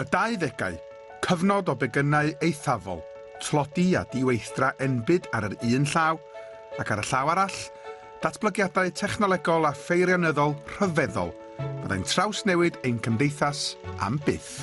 Y Dauddegau, cyfnod o begynnau eithafol, tlodi a diweithdra enbyd ar yr un llaw, ac ar y llaw arall, datblygiadau technolegol a pheirianyddol rhyfeddol fyddai'n trawsnewid ein cymdeithas am byth.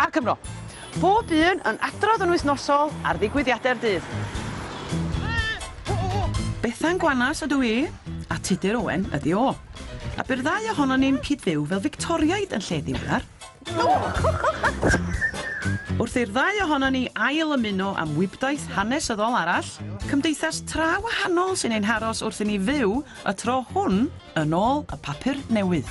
A'r Cymro. Pob un yn adrodd yn wythnosol ar ddigwyddiadau'r dydd. Bethan Gwanas ydw i, a Tudur Owen ydi o. A bu'r ddau ohonon ni'n cyd-fyw fel Fictoriaid yn lle ddiweddar. Wrth i'r ddau ohonon ni ail ymuno am wibdaith hanesyddol arall, cymdeithas tra wahanol sy'n ein haros wrth i ni fyw y tro hwn yn ôl y papur newydd.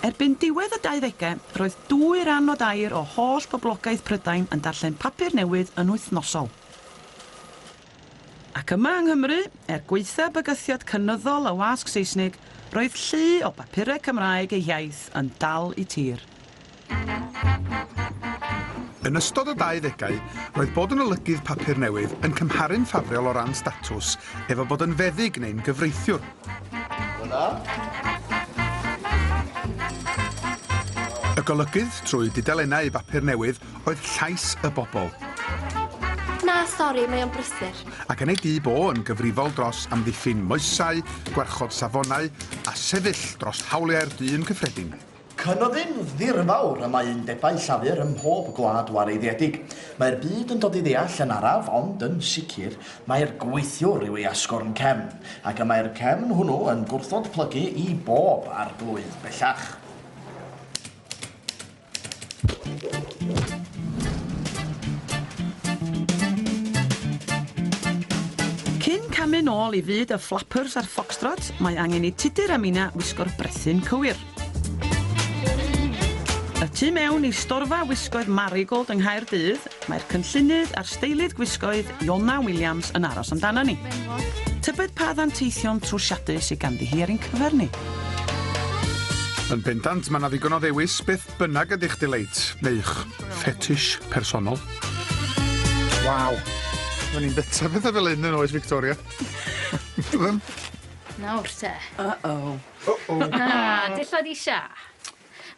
Erbyn diwedd y dauddegau, roedd dwy ran o dair o holl boblogaeth Prydain yn darllen papur newydd yn wythnosol. Ac yma yng Nghymru, er gwaetha bygythiad cynyddol y wasg Seisnig, roedd llu o bapurau Cymraeg ei hiaith yn dal i tir. Yn ystod y 20au, roedd bod yn olygydd papur newydd yn cymharu'n ffafriol o ran statws efo bod yn feddyg neu'n gyfreithiwr. Y golygydd trwy dudalennau bapur newydd oedd llais y bobl. Na, sori, mae o'n brysur. Ac yn ei dŷ bo yn gyfrifol dros amddiffyn moesau, gwarchod safonau a sefyll dros hawliau'r dyn cyffredin. Cynefin ddirfawr y mae undebau llafur ym mhob gwlad wareiddiedig. Mae'r byd yn dod i ddeall yn araf, ond yn sicr, mai'r gweithiwr yw ei asgwrn cefn, ac y mae'r cefn hwnnw yn gwrthod plygu i bob arglwydd bellach. Cyn camu'n ôl i fyd y flappers a'r foxtrots, mae angen i Tudur a Mina wisgo'r brethyn cywir. Y tu mewn i storfa wisgoedd Marigold yng Nghaerdydd, mae'r cynllunydd a'r steilydd gwisgoedd Iona Williams yn aros amdana ni. Tybed pa ddanteithion trwsiadus sydd ganddi hi ar ein cyfer ni? Yn bendant, mae yna ddigon o ddewis beth bynnag ydych dileit, neu'ch fetish personol. Waw! Mae'n i'n bita pethau fel un yn oes Victoria. Byddem? Nawr te. Uh-oh. Uh-oh. Ah, dillad i sia.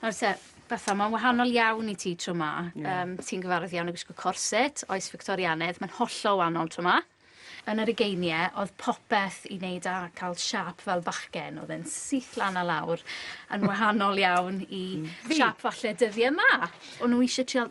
Nawr te, Betha, mae'n wahanol iawn i ti tro ma. Yeah. Um, ti'n gyfarwydd iawn o gwisgo corset, oes Victorianedd, mae'n hollol wahanol tro ma. Yn yr ugeiniau, oedd popeth i wneud â cael siap fel bachgen, oedd e'n syth lan a lawr, yn wahanol iawn i mm. siap falle dyddiau yma. O'n nhw eisiau trial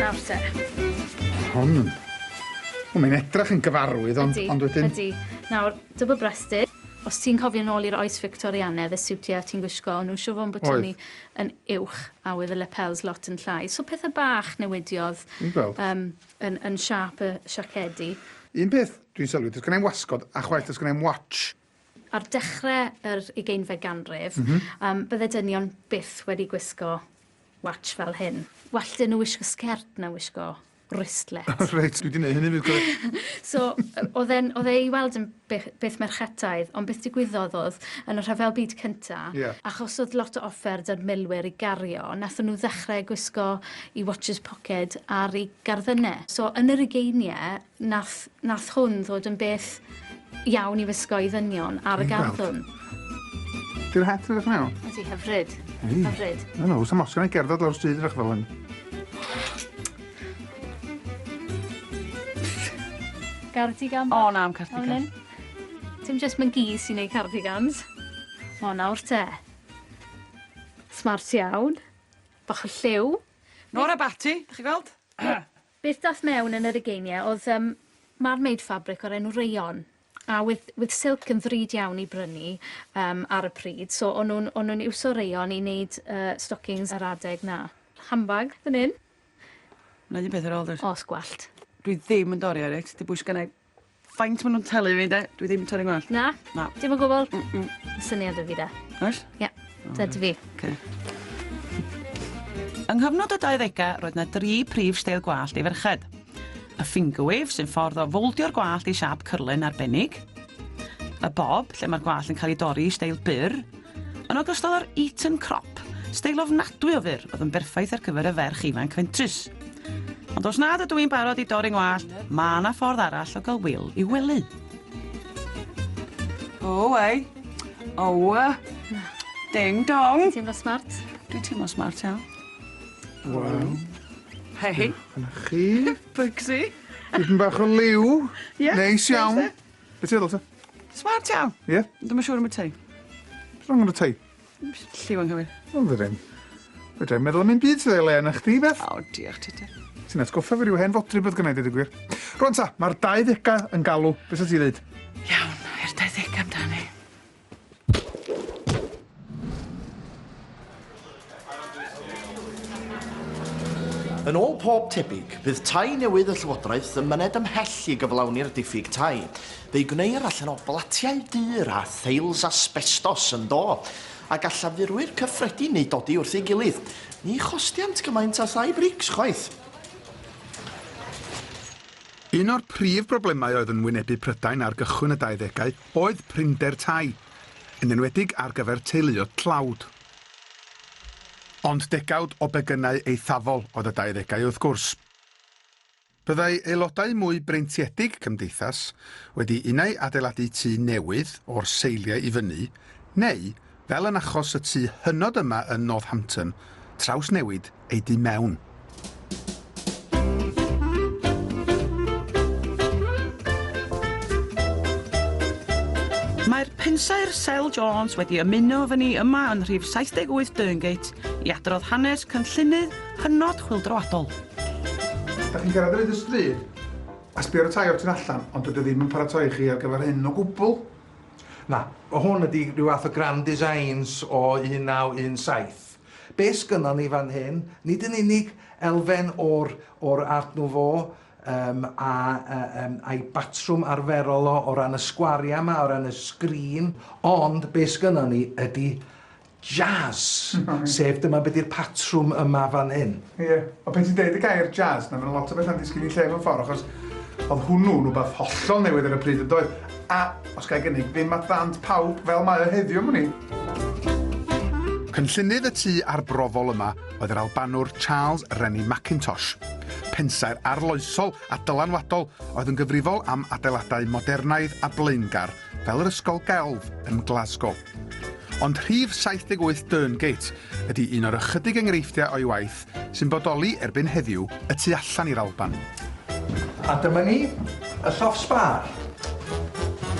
Nawr te. Hon yn... O, mae'n edrach yn gyfarwydd, ond, ydy, ond wedyn... Ydy, Nawr, double breasted, os ti'n cofio'n ôl i'r oes Victorianedd, y siwtiau ti'n gwisgo, o'n nhw'n siw fo'n botoni yn uwch, a oedd y lapels lot yn llai. So pethau bach newidiodd um, yn, yn siap y siacedi. Un peth dwi'n sylwi, does gen i'n wasgod, a chwaith does gen i'n watch. Ar dechrau yr ugeinfed ganrif, bydde dynion byth wedi gwisgo watsh fel hyn. Well 'da nhw wisgo sgert na wisgo wristlet. Reit, dwi 'di neud hynny 'fyd cofia. So, oedd e'n, oedd e i weld yn beth merchetaidd, ond beth digwyddodd oedd, yn y Rhyfel Byd Cynta'... Ie. ...achos oedd lot o offer 'da'r milwyr i gario, nathon nhw ddechre gwisgo 'u watches pocket ar 'u garddyne. So, yn yr ugeinie, Nath, nath hwn ddod yn beth iawn i wisgo i ddynion ar y garddwrn. Di'r het yn edrych mewn? Ydy, hyfryd. Ydy. Hyfryd. No, no, sam osgan ei gerdded lawr stryd rach fel hyn. Cardigan? O, na, am cardigan. Dim just mae'n gi sy'n neud cardigans. O, nawr te. Smart iawn. Bach o lliw. Nora Batty, dych chi gweld? Beth dath mewn yn yr ugeinie oedd yym marmaid ffabric o'r enw Rayon a with with silk yn ddrud iawn i brynu yym ar y pryd so o'n nhw'n o'n nhw'n iwso rayon i neud yy stockings ar adeg 'na. Handbag fan 'yn. 'Na un peth ar ôl 'r... Os gwellt. Dwi ddim yn dori ar it. Dibwys gennai Faint ma' nw'n talu fi 'de? Dwi ddim yn torri ngwallt. Na? Na. Dim o gwbwl? Mm mm. Ma' syniad 'da fi 'de. Oes? Ie. Dyna ti fi. Oce. Yng nghyfnod y 20au, roedd yna dri prif steil gwallt i ferched. Y finger wave, sy'n ffordd o fowldio'r gwallt i siap cyrlen arbennig. Y bob, lle mae'r gwallt yn cael ei dorri i steil byr. Yn ogystal â'r Eton crop, steil ofnadwy o fyr oedd yn berffaith ar gyfer y ferch ifanc fentrus. Ond os nad ydw i'n barod i dorri ngwallt, mae yna ffordd arall o gael Will i wely. O, ei. O, ding dong. Ti'n teimlo smart? Dwi'n teimlo smart iawn. Wel. Hei. Yna chi. Bugsy. Dipyn bach o liw. Ie. Neis iawn. Be ti'n feddwl ta? Smart iawn. Ie? Yeah? Dwi'n siŵr am y tei. Beth rong am y tei? Lliw anghywir. Wel, fydde ddim. Fydde i'n meddwl am un byd sydd ei le yna chdi, Beth. O, diolch ti te. Ti'n atgoffa fi rhyw hen fodri bydd gwneud i ddigwyr. Rwan ta, mae'r 20au yn galw. Beth sy'n ti ddeud? Iawn, i'r 20au amdani. Yn ôl pob tebyg, bydd tai newydd y Llywodraeth yn myned ymhell i gyflawni'r diffyg tai. Fe'i gwneir allan o blatiau dur a theils asbestos yn do, a gall afurwyr cyffredin eu dodi wrth ei gilydd. Ni chostiant gymaint a thai brics chwaith. Un o'r prif broblemau oedd yn wynebu Prydain ar gychwyn y 20au oedd prinder tai, yn enwedig ar gyfer teuluoedd tlawd. Ond degawd o begynnau eithafol oedd y dauddegau wrth gwrs. Byddai aelodau mwy breintiedig cymdeithas wedi unai adeiladu tŷ newydd o'r seiliau i fyny, neu Fel yn achos y tŷ hynod yma yn Northampton, trawsnewid ei du mewn. Mae'r pensaer Sel Jones wedi ymuno efo ni yma yn rhif 78 Derngate i adrodd hanes cynllunydd hynod chwildroadol. Da chi'n cyrraedd ar hyd y stryd a sbio ar y tai o'r tu allan, ond dydy o ddim yn paratoi chi ar gyfer hyn o gwbl. Na, hwn ydi rhyw fath o grand designs o 1917. Be sgynnon ni fan hyn, nid yn unig elfen o'r, o'r Art Nouveau um, a, a, um, a'i batrwm arferol o, o ran y sgwariau yma, o ran y sgrin, ond be sgynnon ni ydi Jazz! Sef dyma be di'r patrwm yma fan hyn. Ie, ond pan ti'n deud y gair jazz, na ma' 'na lot o betha'n disgyn i lle mewn ffordd, achos oedd hwnnw'n wbath hollol newydd ar y pryd yndoedd? A, os ga i gynnig, ddim at ddant pawb fel mae o heddiw am wn i. Cynllunydd y tŷ arbrofol yma oedd yr Albanwr Charles Rennie Mackintosh, pensaer arloesol a dylanwadol oedd yn gyfrifol am adeiladau modernaidd a blaengar fel yr Ysgol Gelf yn Glasgow. Ond rhif 78 Derngate ydy un o'r ychydig enghreifftiau o'i waith sy'n bodoli erbyn heddiw y tu allan i'r Alban. A dyma ni, y llofft sbâr.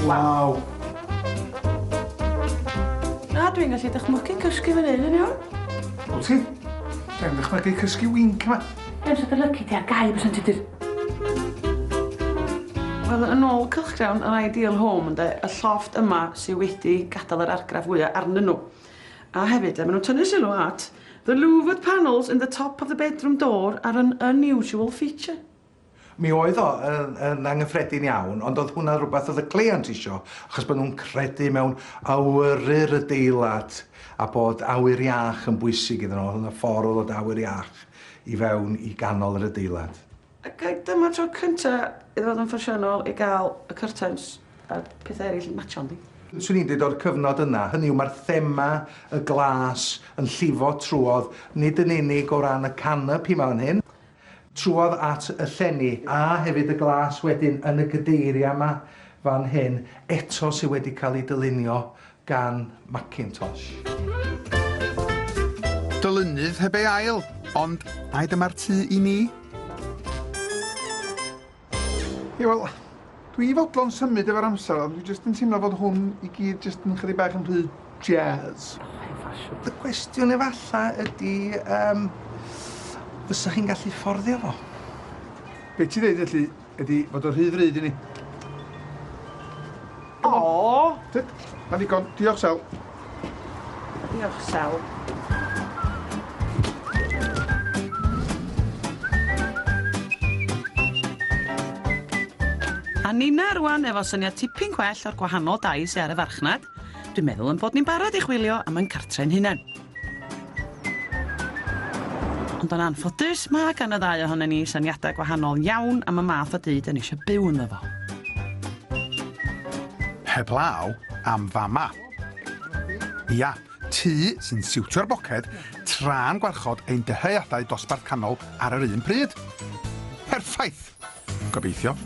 Waw! Na, dwi'n gallu dychmygu cysgu fan hyn yn iawn. Wyt ti? Dwi angen dychmygu cysgu winc 'ma. Edrych dy lyci di a gau byswn ti dydd. Wel, yn ôl cylchgrawn yr Ideal Home, ynde, y llofft yma sydd wedi gadael yr argraff fwyaf arnyn nhw. A hefyd, maen nhw'n tynnu sylw at the louvered panels in the top of the bedroom door are an unusual feature. Mi oedd o yn, yn angyffredin iawn, ond oedd hwnna rhywbeth oedd y cleiant isio, achos bod nhw'n credu mewn awyru'r adeilad a bod awyr iach yn bwysig iddyn nhw. Oedd hwnna ffordd o ddod awyr iach i fewn i ganol yr adeilad. Ac ai dyma'r tro cynta iddo fod yn ffasiynol i gael y cyrtains a'r pethau eraill yn matcho, yndi? Swn i'n dweud o'r cyfnod yna, hynny yw mae'r thema, y glas, yn llifo trwodd, nid yn unig o ran y canopi 'ma fan hyn, Trwodd at y llenni, a hefyd y glas wedyn yn y gadeiriau yma fan hyn, eto sydd wedi cael eu dylunio gan Mackintosh. Dylunydd heb ei ail, ond mai dyma'r tŷ i mi? Ie wel, dwi i fodlon symud efo'r amser ond dwi jyst yn teimlo fod hwn i gyd jyst yn chydig bach yn rhy jazz. Y cwestiwn efalla ydi yym fysa chi'n gallu fforddio fo? Be' ti ddeud felly ydi fod o rhy ddrud i ni? Aww! Tyd, mae'n ddigon. Diolch, Sel. Diolch, Sel. A Nina rwan efo syniad tipyn gwell o'r gwahanol dai sy ar y farchnad. Dwi'n meddwl yn bod ni'n barod i chwilio am yn cartre'n hunan. Ond yn anffodus, mae gan y ddau ohonen ni syniadau gwahanol iawn am y math o dŷ 'da ni eisiau byw ynddo fo. Heblaw am fama. Ia, tŷ sy'n siwtio'r boced tra'n gwarchod ein dyheadau dosbarth canol ar yr un pryd. Perffaith! Gobeithio.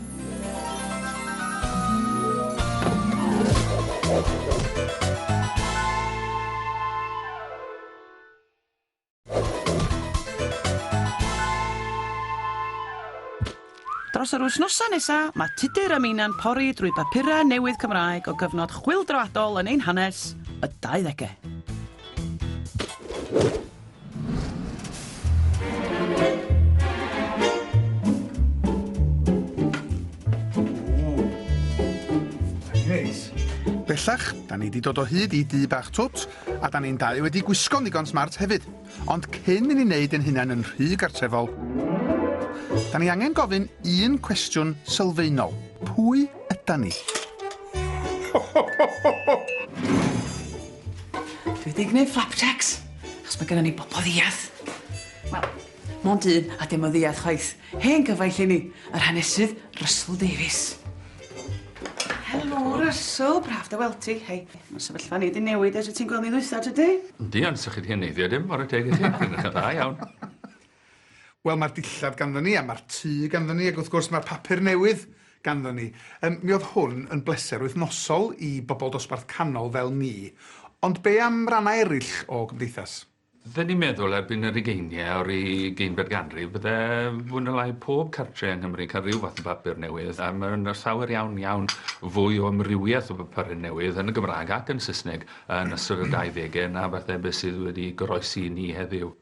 Dros yr wythnosau nesa, mae Tudur a Meinau'n pori drwy bapurau newydd Cymraeg o gyfnod chwyldroadol yn ein hanes, y 20au. Bellach, da ni wedi dod o hyd i du bach twt, a da ni'n dau wedi gwisgo'n ddigon smart hefyd. Ond cyn i ni wneud yn hunain yn rhy gartrefol, da ni angen gofyn un cwestiwn sylfaenol. Pwy yda ni? Dwi 'di gneud flapjacs, achos ma' gynnon ni bobol ddiarth. Wel, mond un, a dim yn ddiarth chwaith. Hen gyfaill i ni, yr hanesydd Russell Davies. Helo, Russell, braf dy weld ti. Hei, ma' sefyllfa ni 'di newid ers y ti'n gweld ni ddwytha, tydi? Yndi, ond 'sych chi 'di heneiddio dim, ware teg i ti. Chi'n edrych yn dda iawn. Wel, mae'r dillad ganddo ni, a mae'r tŷ ganddo ni, ac wrth gwrs mae'r papur newydd ganddo ni. Yym, mi oedd hwn yn bleser wythnosol i bobl dosbarth canol fel ni. Ond be am rannau eraill o gymdeithas? Dw i'n meddwl erbyn yr ugeiniau o'r ugeinfed ganrif bydde fwy na lai pob cartre yng Nghymru'n cael rhyw fath o bapur newydd a ma' 'na llawer iawn iawn fwy o amrywiaeth o bapure newydd yn y Gymraeg ac yn Saesneg yn ystod y dau ddege na falle be' sydd wedi goroesi i ni heddiw.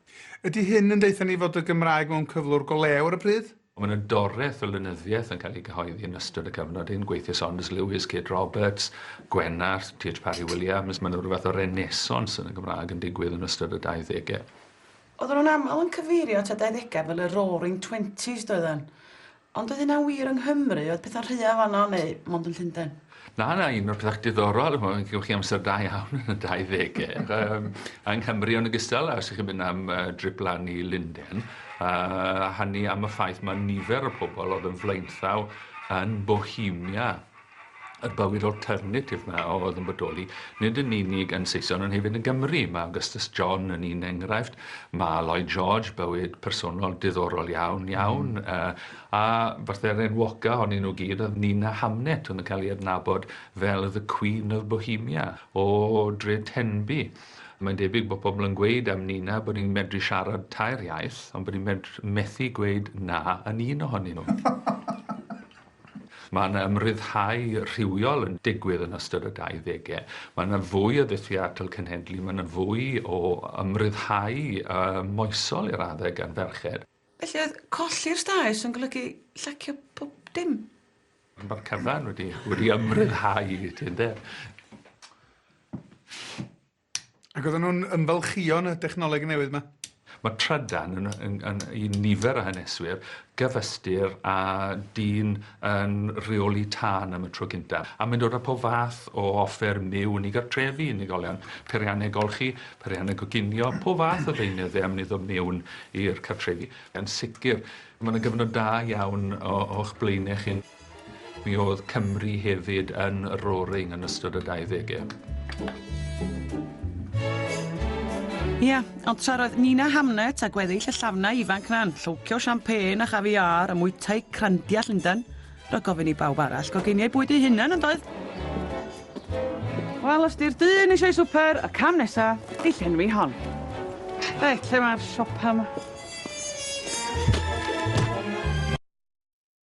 Ydy hyn yn deutha ni fod y Gymraeg mewn cyflwr go lew ar y pryd? Mae yna doreth o lenyddiaeth yn cael ei gyhoeddi yn ystod y cyfnod hyn, gweithiau Saunders Lewis, Kate Roberts, Gwenallt, TH Parry Williams, mae yna ryw fath o renaissance yn y Gymraeg yn digwydd yn ystod y dauddegau. Oedden nhw'n aml yn cyfeirio at y dauddegau fel y Roaring Twenties, doedden? Ond oedd hynna'n wir yng Nghymru? Oedd pethau'n rhydd fan'na neu mond yn Llundain? Na, na, un o'r pethau diddorol, chimod, chi'n chi amser da iawn yn y 20au, um, yng Nghymru yn ogystal, a os ydych chi'n mynd am uh, drip lan i Linden, a uh, hynny am y ffaith mae nifer o pobl oedd yn flaenthaw yn Bohemia y bywyd alternatif 'ma oedd yn bodoli, nid yn unig yn Saeson ond hefyd yn Gymru. Mae Augustus John yn un enghraifft, mae Lloyd George, bywyd personol diddorol iawn, iawn, mm. uh, a fatha'r enwoca honni nhw gyd oedd Nina Hamnet, oedd yn cael ei adnabod fel The Queen of Bohemia, o Dre Tenby. Mae'n debyg bod pobl yn gweud am Nina bod ni'n medru siarad tair iaith, ond bod ni'n methu gweud na yn un ohonyn nhw. Mae yna ymryddhau rhywiol yn digwydd yn ystod y 20au. Mae yna fwy o ddulliau atal cenhedlu, mae yna fwy o ymryddhau moesol i raddau gan ferched. Felly oedd colli'r staes yn golygu llacio pob dim? Mae'r cyfan wedi wedi ymryddhau i ti ynde? Ac oedden nhw'n ymfalchïo yn y dechnoleg newydd yma? Mae trydan yn, yn, yn, i nifer o haneswyr gyfystyr â dyn yn rheoli tân am y tro gyntaf. A mae'n dod â pob fath o offer myw yn ei gartrefi, unigolion, periannau golchi, periannau goginio, pob fath o ddeunyddau am niddo mewn i'r cartrefi. Yn sicr, mae yna gyfnod da iawn o'ch blaenau chi. Mi oedd Cymru hefyd yn y roaring yn ystod y dauddege. Ia, ond tra roedd Nina Hamnet a gweddill y llafnau ifanc na'n llowcio champagne a chaviar a mwytau crandia Llundain, roedd gofyn i bawb arall goginiau bwyd ei hunan yn doedd? Wel, os di'r dyn eisiau swper, y cam nesa, i llenwi hon. Reit, lle mae'r siopa yma?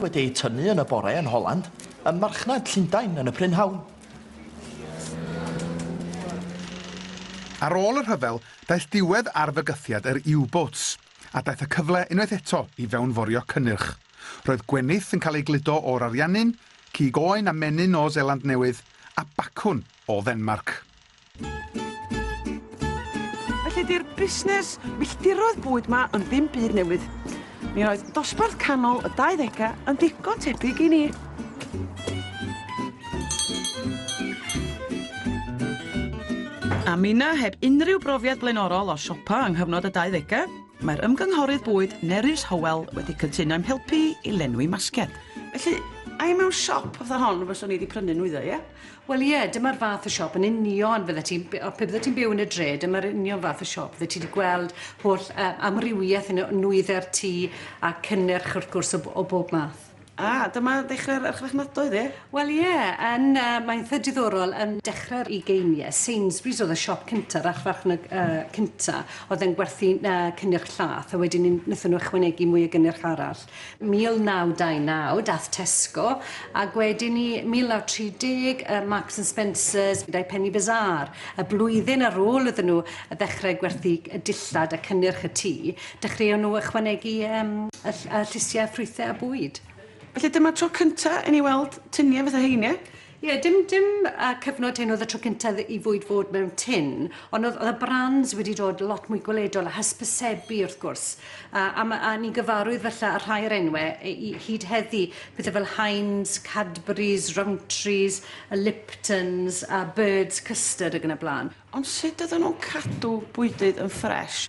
wedi eu tynnu yn y bore yn Holland, ym marchnad Llundain yn y prynhawn. Ar ôl y rhyfel, daeth diwedd ar fygythiad yr U-boats, a daeth y cyfle unwaith eto i fewnforio cynnyrch. Roedd gwenith yn cael ei gludo o'r Ariannin, cig oen a menyn o Seland Newydd, a bacwn o Ddenmarc. Felly di'r busnes milltiroedd bwyd ma yn ddim byd newydd. Mi oedd dosbarth canol y 20au yn ddigon tebyg i ni. A minna heb unrhyw brofiad blaenorol o siopa yng nghyfnod y 20au, mae'r ymgynghorydd bwyd Nerys Howell wedi cytuno i'm helpu i lenwi masged. Felly, ai mewn siop fatha hon fyswn i wedi prynu nwyddau, ie? Wel ie, dyma'r fath o siop yn union fyddet ti'n... b- o, pe byddet ti'n byw yn y dre, dyma'r union fath o siop fyddet ti 'di gweld holl yy amrywieth yn y nwydde'r tŷ a cynnyrch wrth gwrs o b- o bob math. A, dyma ddechrau'r archfarchnadoedd ie? Wel ie, yn yy mae'n eitha diddorol yn dechrau'r ugeinie, Sainsbury's o'dd y siop cynta, yr archfarchnad yy cynta o'dd yn gwerthu yy cynnyrch llath a wedyn 'ny nethon nw ychwanegu mwy o gynnyrch arall. 1929, dath Tesco, ag wedyn ni 1930 yy Marks and Spencers gyda'i Penny Bazaar. Y blwyddyn ar ôl iddyn nhw ddechrau gwerthu y dillad a cynnyrch y tŷ, dechreuon nhw ychwanegu yym y ll- y llysiau ffrwythau a bwyd. Felly dyma'r tro cynta' i ni weld tunie fatha hein, ie? Ie, dim dim yy cyfnod hyn oedd y tro cynta dd- i fwyd fod mewn tin, ond oedd oedd y brands wedi dod lot mwy gweledol a hysbysebu wrth gwrs, a a ma' a ni'n gyfarwydd falle â rhai o'r enwe yy i hyd heddi, pethe fel Heinz, Cadbury's, Rowntree's, y Liptons a Bird's Custard ag yn y bla'n. Ond sut oedden nhw'n cadw bwydydd yn ffresh?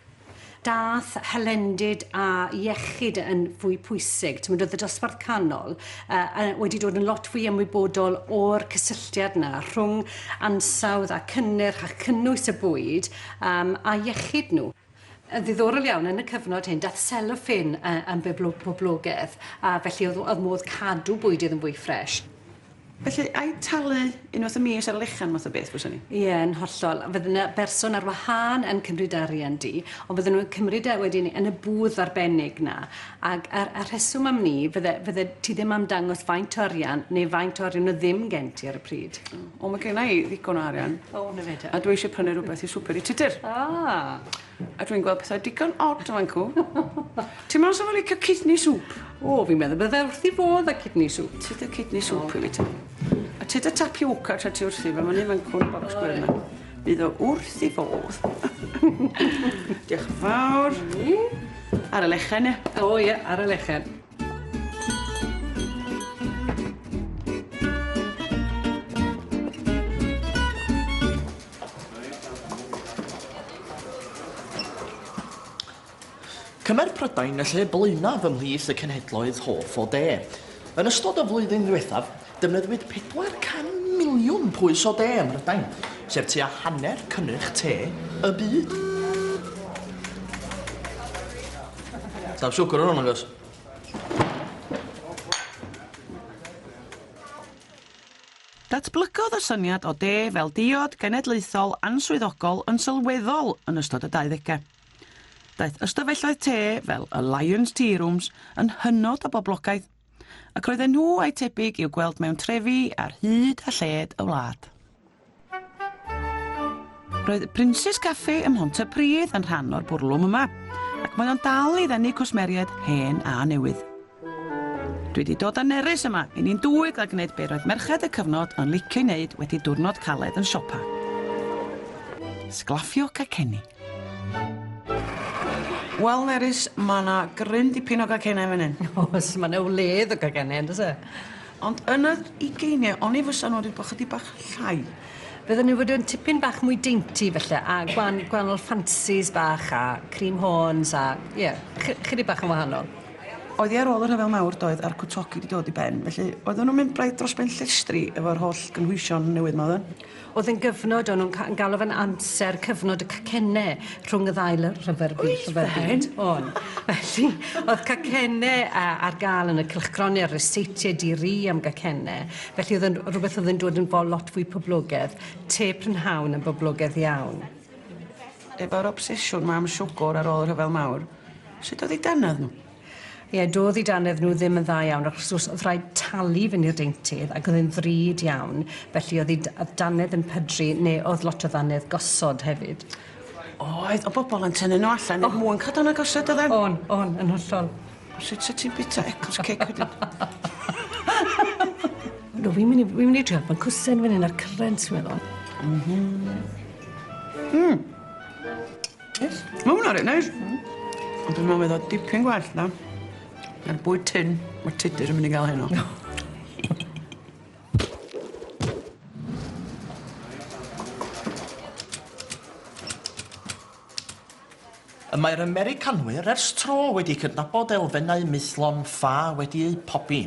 Daeth hylendid a iechyd yn fwy pwysig. Timod, oedd y dosbarth canol uh, wedi dod yn lot fwy ymwybodol o'r cysylltiad yna rhwng ansawdd a cynnyrch a chynnwys y bwyd um, a iechyd nhw. Yn ddiddorol iawn, yn y cyfnod hyn, daeth seloffin yn boblogedd, a felly oedd modd cadw bwydydd yn fwy ffresh. Felly, ai talu unwaith y mis ar y lechan math o beth fyswn i? Ie, yn hollol. Fydd yna berson ar wahân yn cymryd arian di, ond fydden nhw'n cymryd e wedyn yn y bwth arbennig 'na. Ac a'r a'r rheswm am 'ny, fydde fydde ti ddim am dangos faint o arian neu faint o arian oedd ddim gen ti ar y pryd. O ma genna i ddigon o arian. O 'na fe te. A dwi isie prynu rwbeth i swper i Tudur. Ah. A dwi'n gweld pethau digon od o fancw. Ti me'wl sa fo licio kidney soup? O fi'n meddwl bydde fe wrth 'i fodd â kidney soup. Tyd y kidney soup i fi te. A tyd y tapioca tra ti wrthi fe ma' neu' fancw yn y bocs gwyrdd 'ma. Bydd o wrth 'i fodd. Dioch yn fawr. Ar y lechen ia? O ia ar y lechen. Cymer Prydain y lle blaenaf ymhlith y cenhedloedd hoff o de. Yn ystod y flwyddyn ddiwethaf, Defnyddiwyd 400 miliwn pwys o de ym Mhrydain, sef tua hanner cynnyrch te y byd. Sa'm siwgr yn hwn, agos. Datblygodd y syniad o de fel diod genedlaethol answyddogol yn sylweddol yn ystod y dauddegau. Daeth ystafelloedd te fel y Lyons Tea Rooms yn hynod o boblogaidd, ac roedden nhw a'i tebyg i'w gweld mewn trefi ar hyd a lled y wlad. Roedd y Princes Café ym Mhontypridd yn rhan o'r bwrlwm yma, ac mae o'n dal i ddenu cwsmeriaid hen a newydd. Dwi wedi dod â nerys yma i ni'n dwy gael gwneud be roedd merched y cyfnod yn licio wneud wedi diwrnod caled yn siopa. Sglafio cacenni. Wel Nerys ma' 'na gryn dipyn o gacennau fan 'yn. Oes ma' 'na wledd o gacennau on'd o's e? Ond yn yr ugeinie o'n i fysa nw 'di bo' chydig bach llai. Fydden nw fod yn tipyn bach mwy dainty falle a gwan- gwanol ffansis bach a cream horns a ie chy- chydig bach yn wahanol. Oedd hi ar ôl y rhyfel mawr doedd a'r cwtogi 'di dod i ben felly oedden nw'n mynd braidd dros ben llestri efo'r holl gynhwysion newydd 'ma oedden? O'dd e'n gyfnod o'n nw'n ca- yn galw fe'n amser cyfnod y cacenne rhwng y ddau ly- rhyfel by- rhyfel byd. Oedd e'n? O'n. Felly o'dd cacenne yy ar ga'l yn y cylchgrone a'r ryseitiau di-ri am gacenne felly o'dd e'n r- rwbeth o'dd e'n dod yn fo- lot fwy poblogedd. Te prynhawn yn boblogedd iawn. Efo'r obsesiwn 'ma am siwgwr ar ôl y rhyfel mawr sut o'dd 'u dannedd nw? Ie, do'dd 'u dannedd nhw ddim yn dda iawn, achos os o'dd rhaid talu fynd i'r deintydd, ac o'dd e'n ddrud iawn, felly o'dd 'u d- yy dannedd yn pydru, ne' o'dd lot o ddannedd gosod hefyd. Oedd, o' bobol yn tynnu nhw allan er mwyn ca'l dannedd gosod dodden? O'n, o'n, yn hollol. O sut sa ti'n bita Eccles cake wedyn? Do, fi'n myn' i fi'n myn' i trial pan cwsen fyn 'yn a'r currants fi'n meddwl. M-hm. Hmm. Neis. Ma' wnna reit neis. Hmm. Ond dwi'n me'wl fydd o dipyn gwell na na'r bwyd tun ma' Tudur yn mynd i ga'l heno. Y mae'r Americanwyr ers tro wedi cydnabod elfennau maethlon ffa wedi eu pobi,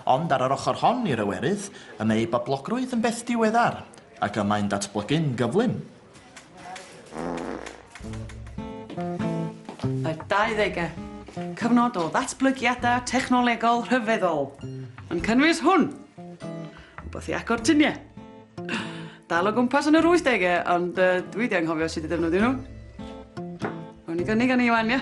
ond ar yr ochr hon i'r Ewerydd, y mae ei boblogrwydd yn beth diweddar, ac y mae'n datblygu'n gyflym. Y 20au, cyfnod o ddatblygiadau technolegol rhyfeddol, yn cynnwys hwn, rhywbeth i agor tuniau. Dal o gwmpas yn yr 80au, ond uh, dwi wedi anghofio sut i ddefnyddio nhw. Rwy'n i gynnig yn Iwan, ie?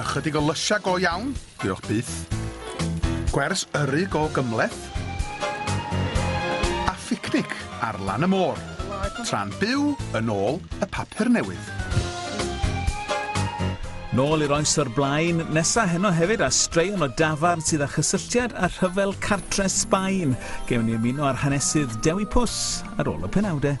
Ychydig o lysiau go iawn, diolch byth. Gwers yrru go gymleth. A phicnic ar lan y môr, tra'n byw yn ôl y papur newydd. Nôl i'r oes o'r blaen, nesa heno hefyd a straeon o dafarn sydd â chysylltiad â rhyfel cartre Sbaen. Gewn ni ymuno â'r hanesydd Dewi Pws ar ôl y penawdau.